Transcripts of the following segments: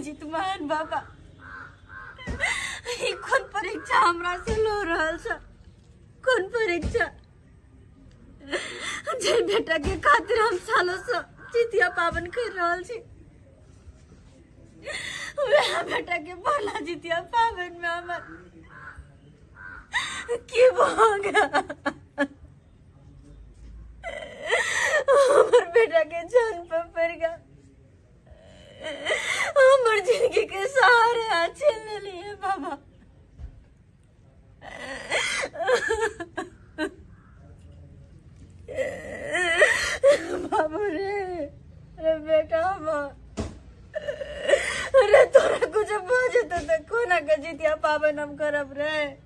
जितमान बाबा ई कोन परीक्षा हमरा से लो रहल छ कोन परीक्षा जे बेटा के खातिर हम सालों से जितिया पावन कर रहल छी वह बेटा के भला जितिया पावन में हमर की भोग हमर बेटा के जान पर पड़ गया हमर जिंदगी के सहारे हाथ छीन लेलिए बाबा बाबू रे रे बेटा हमर रे तोरा कुछ भऽ जेतौ तऽ कोना के जितिया पाबनि हम करब रे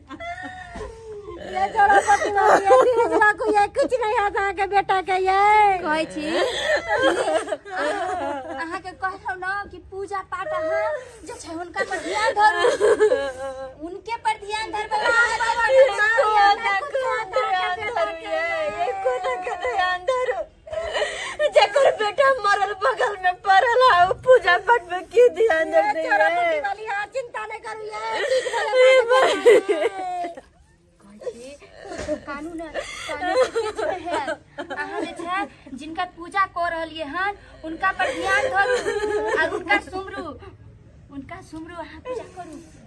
ये जोड़ा पति मार दिया तीन जोड़ा को ये कुछ नहीं आता है के बेटा के ये कहै छी अहाँ के कहलौ न कि पूजा पाठ अहाँ जे छै हुनका पर ध्यान धरू उनके पर ध्यान धरबै अहाँ जे पर ध्यान धरू। जेकर बेटा मरल बगल में पड़ल है उ पूजा पाठ में की ध्यान दे रही है वाली हां चिंता नहीं करू ये कानून कानून के बीच में है अहाँ जे छै जिनका पूजा कऽ रहलिए हन उनका पर ध्यान धरू और उनका सुमरू उनका सुमरू अहाँ पूजा करू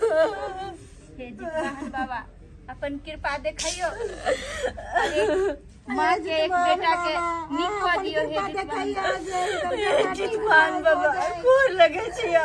हे जी वाहन बाबा अपन कृपा देखियो माँ के एक बेटा के नीक कऽ दियो हे जी वाहन बाबा। ठीक मान बाबा गोर लगे छिया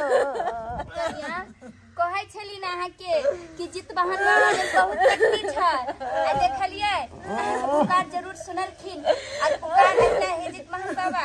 कनिया, कहै छली ने अहाँके कि जित बहन महादेव बहुत शक्ति छै आ देखलियै अहाँके पुकार जरूर सुनलखिन आ पुकार लगलै हे जित बहन बाबा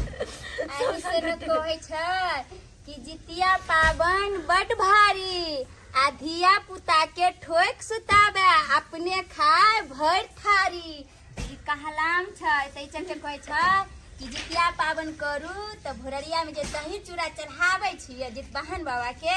एहि से ने कहै छै कि जितिया पाबनि बड भारी आ धिया पुता के ठोक सुताबे अपने खाय भरि थारी ई कहलाम छै ताहि चलते कहै छै कि जितिया पाबनि करू तऽ भोररिया में जे दही चूड़ा चढ़ाबै छियै जितवाहन बाबा के